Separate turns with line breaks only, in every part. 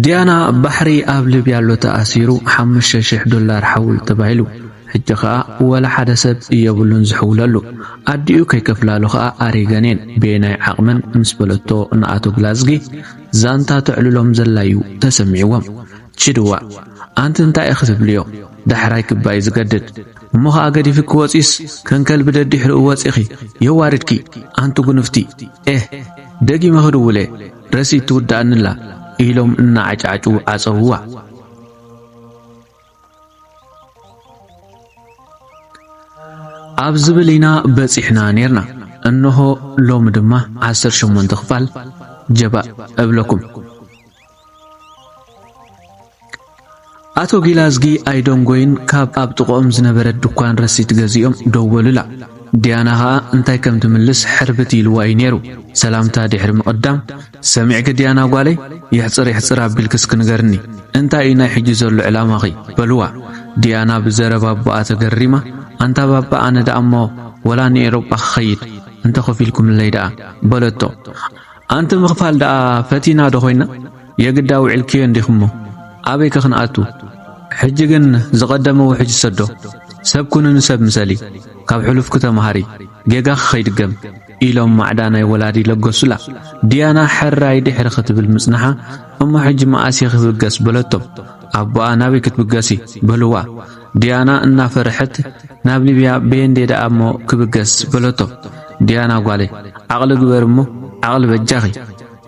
ዲያና ባሕሪ ኣብ ሊብያ ኣሎ ተኣሲሩ ሓሙሽተ ሽሕ ዶላር ሓውል ተባሂሉ ሕጂ ኸኣ ወላ ሓደ ሰብ የብሉን ዝሕውለሉ ኣዲኡ ከይከፍላሉ ኸኣ ኣሪገን እየን በየናይ ዓቕመን ምስ በለቶ ንኣቶ ግላዝጊ ዛንታ ተዕልሎም ዘላ እዩ ተሰሚዕዎም ችድዋ ኣንቲ እንታይ ኢኺ ትብልዮ ዳሕራይ ክባይ ዝገድድ እሞ ኸኣ ገዲፍኪ ወጺእስ ከም ከልቢ ደዲሕርኡ ወጺእኺ የዋርድኪ ኣንቲ ጉንፍቲ ኤህ ደጊመ ክድውለ ረሲት ትውድኣኒ'ላ ኢሎም እናዓጫጩ ዓጸውዋ። ኣብ ዝብል ኢና በጺሕና ኔርና እንሆ ሎሚ ድማ ዓሰርተ ሸሞንተ ክፋል ጀባእ እብለኩም። ኣቶ ጊላዝጊ ኣይደንጎዩን ካብ ኣብ ጥቕኦም ዝነበረት ድኳን ረሲት ገዚኦም ደወሉላ። ዲያና ከኣ እንታይ ከም ትምልስ ሕርብት ኢልዋ እዩ ነይሩ። ሰላምታ ድሕሪ ምቕዳም፣ ሰሚዕኪ ዲያና ጓለይ፣ የሕጽር የሕጽር ኣቢልኪ እስኪ ንገርኒ፣ እንታይ እዩ ናይ ሕጂ ዘሎ ዕላማኺ? በሉዋ። ዲያና ብዘረባ ኣቦኣ ተገሪማ፣ ኣንታ ባባ ኣነ ደኣ'ሞ ወላ ንኤሮጳ ክኸይድ፣ እንተ ከፊልኩምለይ ደኣ። በለቶ። ኣንቲ ምኽፋል ደኣ ፈቲና ዶ ኮይና የግዳ ውዒልክዮ እንዲኽሞ ኣበይ ከ ክንኣቱ ሕጂ ግን ዝቐደመ ውሕጅ ሰዶ ሰብ ኩኒ ንሰብ ምሰሊ ካብ ሕሉፍኪ ተመሃሪ ጌጋኺ ከይድገም ኢሎም ማዕዳ ናይ ወላዲ ለገሱላ ድያና ሕራይ ድሕሪ ክትብል ምጽንሓ እሞ ሕጂ መኣስ እየ ክብገስ በለቶም ኣቦኣ ናበይ ክትብገሲ በልዋ ዲያና እናፈርሐት ናብ ሊብያ በየንዴ ደኣ እሞ ክብገስ በለቶ። ዲያና ጓለይ ዓቕሊ ግበሪ እሞ ዓቕሊ በጃኺ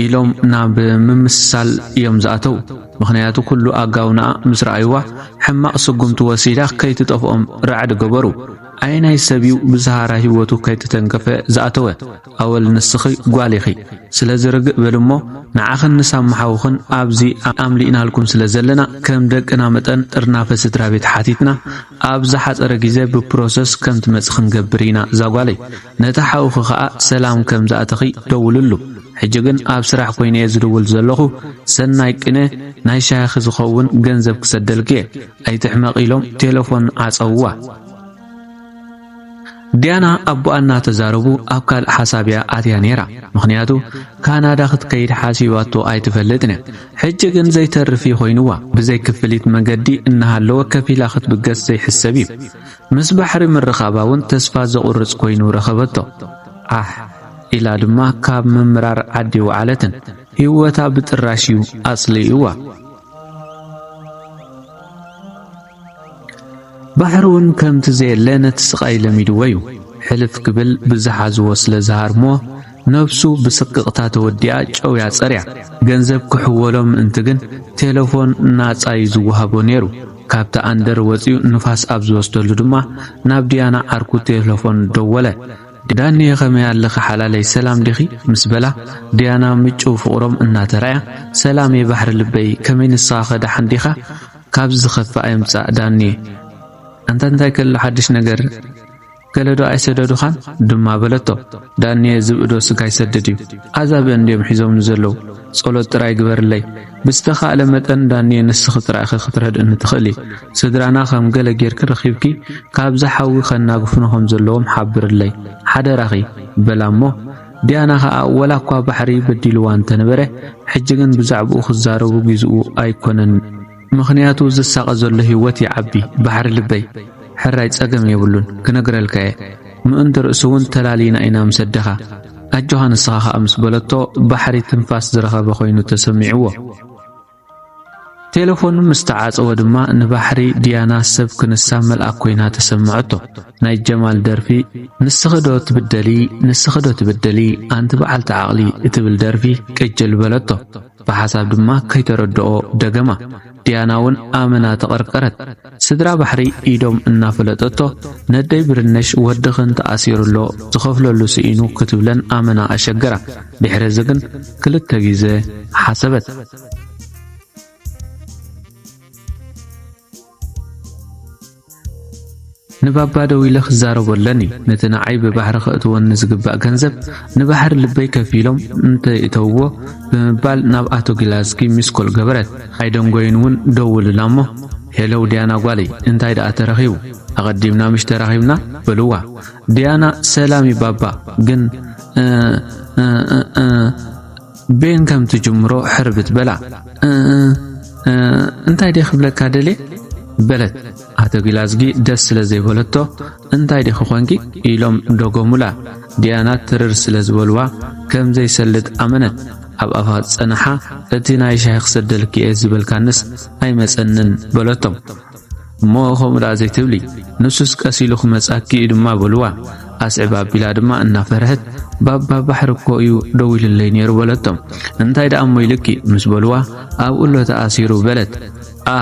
ኢሎም ናብ ምምስሳል እዮም ዝኣተው ምኽንያቱ ኩሉ ኣጋውናኣ ምስ ረኣይዋ ሕማቕ ስጉምቲ ወሲዳ ከይትጠፍኦም ራዕዲ ገበሩ ኣየናይ ሰብ እዩ ብዝሃራ ሂወቱ ከይተተንከፈ ዝኣተወ ኣወል ንስኺ ጓል ኢኺ ስለዚ ርግእ በሊ እሞ ንዓኽን ንሳሙ ሓውኽን ኣብዚ ኣምሊእናልኩም ስለ ዘለና ከም ደቅና መጠን ጥርናፈ ስድራቤት ሓቲትና ኣብ ዝሓጸረ ግዜ ብፕሮሰስ ከም ትመጺ ክንገብር ኢና እዛ ጓለይ ነቲ ሓውኺ ከኣ ሰላም ከም ዝኣተኺ ደውልሉ ሕጂ ግን ኣብ ስራሕ ኮይነ እየ ዝድውል ዘለኹ ሰናይ ቅነ ናይ ሻሂኺ ዝኸውን ገንዘብ ክሰደልኪ እየ ኣይትሕመቂ ኢሎም ቴለፎን ዓጸውዋ ዲያና ኣቦኣ እናተዛረቡ ኣብ ካልእ ሓሳብ እያ ኣትያ ነይራ። ምኽንያቱ ካናዳ ክትከይድ ሓሲባቶ ኣይትፈልጥን እያ። ሕጂ ግን ዘይተርፍ እዩ ኮይኑዋ። ብዘይ ክፍሊት መገዲ እናሃለወ ከፊላ ክትብገስ ዘይሕሰብ እዩ። ምስ ባሕሪ ምርኻባ እውን ተስፋ ዘቑርጽ ኮይኑ ረኸበቶ። ዓሕ ኢላ ድማ ካብ ምምራር ዓዲ ወዓለትን። ህይወታ ብጥራሽ እዩ ኣጽሊኡዋ። ባሕሪ ውን ከምቲ ዘየለ ነቲ ስቓይ ለሚድዎ ዩ። ሕልፍ ክብል ብዝሓዝዎ ስለ ዝሃርምዎ ነብሱ ብስቅቕታ ተወዲኣ ጨውያ ጸርያ። ገንዘብ ክሕወሎ ምእንቲ ግን ቴለፎን ናጻ ዩ ዝወሃቦ ኔሩ። ካብቲ ኣንደር ወጺኡ ንፋስ ኣብ ዝወስደሉ ድማ ናብ ድያና ዓርኩ ቴለፎን ደወለ። ዳኒየ ከመይ ኣለኺ ሓላለይ ሰላም ዲኺ? ምስ በላ ድያና ምጭው ፍቕሮም እናተራእያ ሰላም የ ባሕሪ ልበይ ከመይ ንስኻኸ ደሓን ዲኻ? ካብዚ ዝኸፍእ ኣይምጻእ ዳኒየ። ኣንታ እንታይ ከሎ ሓድሽ ነገር ገለዶ ኣይሰደዱኻን ድማ በለቶ። ዳኒየ ዝብእዶ ስጋ ይሰድድ እዩ ኣዛብእ እንድዮም ሒዞምኒ ዘለዉ ጸሎት ጥራይ ግበርለይ። ብዝተኻእለ መጠን ዳኒየ ንስኺ ጥራይ ኢኺ ክትረድእኒ ትኽእሊ። ስድራና ከም ገለ ጌርኪ ረኺብኪ ካብዚ ሓዊ ከናግፉና ከም ዘለዎም ሓብርለይ ሓደራኺ በላ እሞ ዲያና ከኣ ወላ እኳ ባሕሪ በዲልዋ እንተነበረ ሕጂ ግን ብዛዕብኡ ክዛረቡ ጊዝኡ ኣይኮነን ምኽንያቱ ዝሳቀ ዘሎ ሂወት ይዓቢ ባሕሪ ልበይ ሕራይ ጸገም የብሉን ክነግረልካ እየ ምእንቲ ርእሱ ውን ተላልይና ኢና ምስ ኣደኻ ኣጆኻ ንስኻ ከኣ ምስ በለቶ ባሕሪ ትንፋስ ዝረኸበ ኮይኑ ተሰሚዕዎ ቴለፎኑ ምስ ተዓጸወ ድማ ንባሕሪ ድያና ሰብ ክንሳ መልኣክ ኮይና ተሰምዐቶ ናይ ጀማል ደርፊ ንስኺ ዶ ትብደሊ ንስኺ ዶ ትብደሊ ኣንቲ በዓልቲ ዓቕሊ እትብል ደርፊ ቅጅል በለቶ ብሓሳብ ድማ ከይተረድኦ ደገማ ድያና ውን ኣመና ተቐርቀረት ስድራ ባሕሪ ኢዶም እናፈለጠቶ ነደይ ብርነሽ ወድኽን ተኣሲሩ ኣሎ ዝኸፍለሉ ስኢኑ ክትብለን ኣመና ኣሸገራ ድሕሪ እዚ ግን ክልተ ግዘ ሓሰበት። ንባባ ደዊለ ክዛረቦ ኣለኒ ነቲ ንዓይ ብባሕሪ ከእትወኒ ዝግባእ ገንዘብ ንባሕሪ ልበይ ከፊሎም እንተይእተውዎ ብምባል ናብ ኣቶ ጊላዝጊ ሚስኮል ገበረት። ኣይደንጎዩን ውን ደውልላ እሞ ሄለው ዲያና ጓለይ እንታይ ደኣ ተረኺቡ ኣቐዲምና ምሽ ተራኺብና በልዋ ዲያና ሰላም ዩ ባባ ግን ቤን ከም ትጅምሮ ሕርብት በላ እንታይ ደይ ክብለካ ደልየ በለት ኣቶ ጊላዝጊ ደስ ስለ ዘይበለቶ እንታይ ዲኺ ኮንኪ ኢሎም ደጎሙላ ዲያና ትርር ስለ ዝበልዋ ከም ዘይሰልጥ ኣመነት ኣብ ኣፋ ጸንሓ እቲ ናይ ሻሂ ክሰደልኪ እየ ዝበልካንስ ኣይመጸንን በለቶም እሞ ከምኡ ደኣ ዘይትብሊ ንሱስ ቀስ ኢሉ ክመጻኪ እዩ ድማ በልዋ ኣስዕብ ኣቢላ ድማ እናፈርሐት ባባ ባሕሪ እኮ እዩ ደዊልለይ ነይሩ በለቶም እንታይ ደኣ እሞ ኢልኪ ምስ በልዋ ኣብኡ ኣሎ ተኣሲሩ በለት ኣ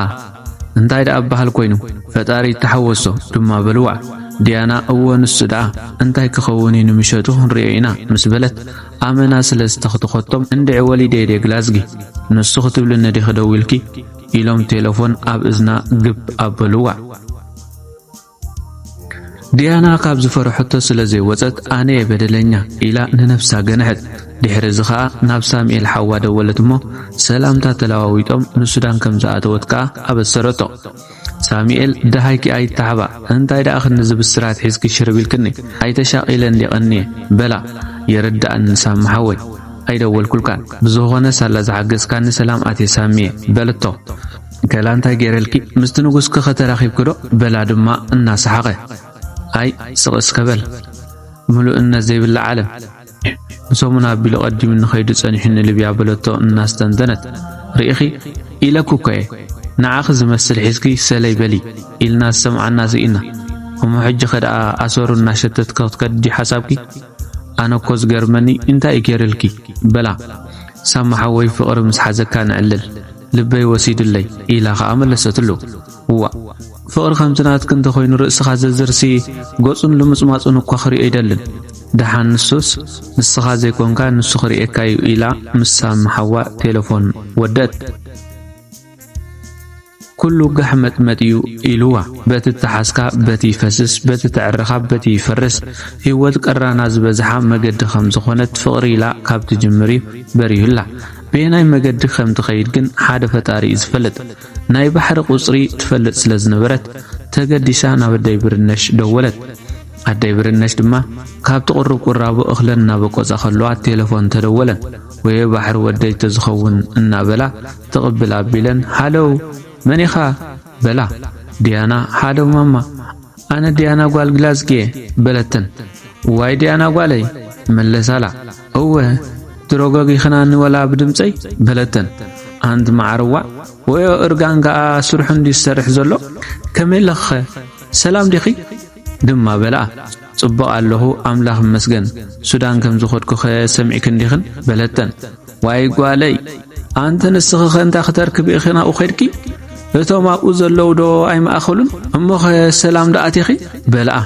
እንታይ ደኣ በሃል ኮይኑ ፈጣሪ ይተሓወሶ ድማ በልዋ ዲያና እወ ንሱ ደኣ እንታይ ክኸውን እዩ ንምሸቱ ክንሪኦ ኢና ምስ በለት ኣመና ስለ ዝተኽትኸቶም እንድዒ ወሊደ እየ ግላዝጊ ንሱ ክትብልኒ ዲኺ ደዊልኪ ኢሎም ቴለፎን ኣብ እዝና ግብ ኣበልዋ ዲያና ካብ ዝፈረሐቶ ስለ ዘይወጸት ኣነየ በደለኛ ኢላ ንነፍሳ ገንሐት። ድሕሪ እዚ ከኣ ናብ ሳሙኤል ሓዋ ደወለት እሞ ሰላምታ ተለዋዊጦም ንሱዳን ከም ዝኣተወት ከኣ ኣበሰረቶ። ሳሙኤል ደሃይኪ ኣይተሓባእ እንታይ ደኣ ክንዲ ዝብስራት ሒዝኪ ሽርብ ኢልክኒ ኣይተሻቒለ እንዴ ቀንየ በላ። ይርደኣኒ ሳሚ ሓወይ ኣይደወልኩልካን ብዝኾነ ሳላ ዝሓገዝካኒ ሰላም ኣትየ ሳሚየ በለቶ። ከላ እንታይ ገይረልኪ ምስቲ ንጉስኪኸ ተራኺብኪዶ? በላ ድማ እናሰሓቐ። ኣይ ስቕ እስከ በል ምሉእነት ዘይብላ ዓለም ንሰሙን ኣቢሉ ቀዲሙኒ ኸይዱ ጸኒሑኒ ልብያ በለቶ እናስተንተነት። ርኢኺ ኢለኩ እኮ እየ ንዓኺ ዝመስል ሒዝኪ ሰለይ በሊ ኢልና ዝሰምዓና ስኢና እሞ ሕጂ ከደኣ ኣሰሩ እናሸተትኪ ክትከዲ ሓሳብኪ ኣነ እኮ ዝገርመኒ እንታይ እዩ ገይርልኪ በላ ሳማ ሓወይ ፍቕሪ ምስ ሓዘካ ንዕልል ልበይ ወሲዱለይ ኢላ ኸኣ መለሰትሉ። እዋእ! ፍቕሪ ከምቲ ናትኪ እንተ ዀይኑ ርእስኻ ዘዝርሲ ገጹን ልምጽማጹን እኳ ክርእዮ ኣይደልን። ደሓን ንሱስ ንስኻ ዘይኰንካ ንሱ ክርእየካ'ዩ ኢላ ምስ ሳሚ ሓዋ ቴለፎን ወደት። ኩሉ ጋሕመጥመጥ'ዩ ኢሉዋ። በቲ እተሓዝካ በቲ ይፈስስ፣ በቲ እተዐረኻ በቲ ይፈርስ። ህይወት ቀራና ዝበዝሓ መገዲ ከም ዝዀነት ፍቕሪ ኢላ ካብ ትጅምር'ዩ በሪሁላ። በየናይ መገዲ ከም ትኸይድ ግን ሓደ ፈጣሪ እዩ ዝፈልጥ። ናይ ባሕሪ ቁጽሪ ትፈልጥ ስለ ዝነበረት ተገዲሳ ናብ ኣደይ ብርነሽ ደወለት። ኣደይ ብርነሽ ድማ ካብቲ ቅሩብ ቁራቦ እኽለን እናበቆጻ ከለዋ ቴለፎን ተደወለን። ወየ ባሕሪ ወደይ ተዝኸውን እናበላ ትቕብል ኣቢለን ሃለው መን ኢኻ በላ። ዲያና ሃለው ማማ ኣነ ዲያና ጓል ግላዝጊየ በለተን። እዋይ ዲያና ጓለይ መለሳላ። እወ ድሮ ገጊኽናኒ ወላ ብድምጸይ በለተን ኣንት መዓር ዋእ ወዮ እርጋን ከኣ ስርሑ እንድዩ ዝሰርሕ ዘሎ ከመይ ኣለኽኸ ሰላም ዲኺ ድማ በልኣ ጽቡቕ ኣለኹ ኣምላኽ ይመስገን ሱዳን ከም ዝኸድኩኸ ሰሚዕኪ እንዲኽን በለተን ዋይ ጓለይ ኣንተ ንስኽኸ እንታይ ክተርክቢ ኢኺ ናብኡ ኸድኪ እቶም ኣብኡ ዘለዉ ዶ ኣይማእኸሉን እሞኸ ሰላም ዶ ኣቲኺ በልኣ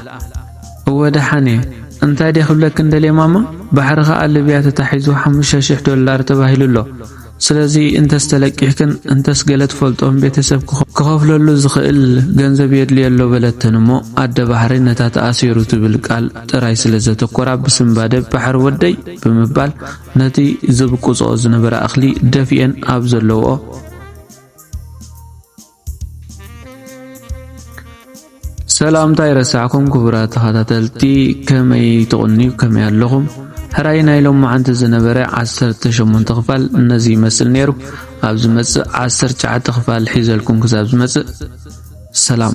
እወ ደሓን እየ እንታይ ድየ ክብለክን ደልየ ማማ ባሕሪ ከኣ ልብያ ተታሒዙ ሓሙሽተ ሽሕ ዶላር ተባሂሉ ኣሎ ስለዚ እንተስ ተለቂሕክን እንተስ ገለ ትፈልጦም ቤተሰብ ክኸፍለሉ ዝኽእል ገንዘብ የድልዮ ኣሎ በለተን እሞ ኣደ ባሕሪ ነታ ተኣሲሩ ትብል ቃል ጥራይ ስለ ዘተኮራ ብስንባደ ባሕሪ ወደይ ብምባል ነቲ ዝብቁፅኦ ዝነበረ ኣኽሊ ደፊኤን ኣብ ዘለውኦ ሰላም እንታይ ረሳዕኩም ክቡራት ተኸታተልቲ ከመይ ትቕንዩ ከመይ ኣለኹም ሕራይ ናይ ሎማዓንቲ ዝነበረ 18 ክፋል ነዚ ይመስል ነይሩ ኣብ ዝመጽእ 19 ክፋል ሒዘልኩም ክሳብ ዝመጽእ ሰላም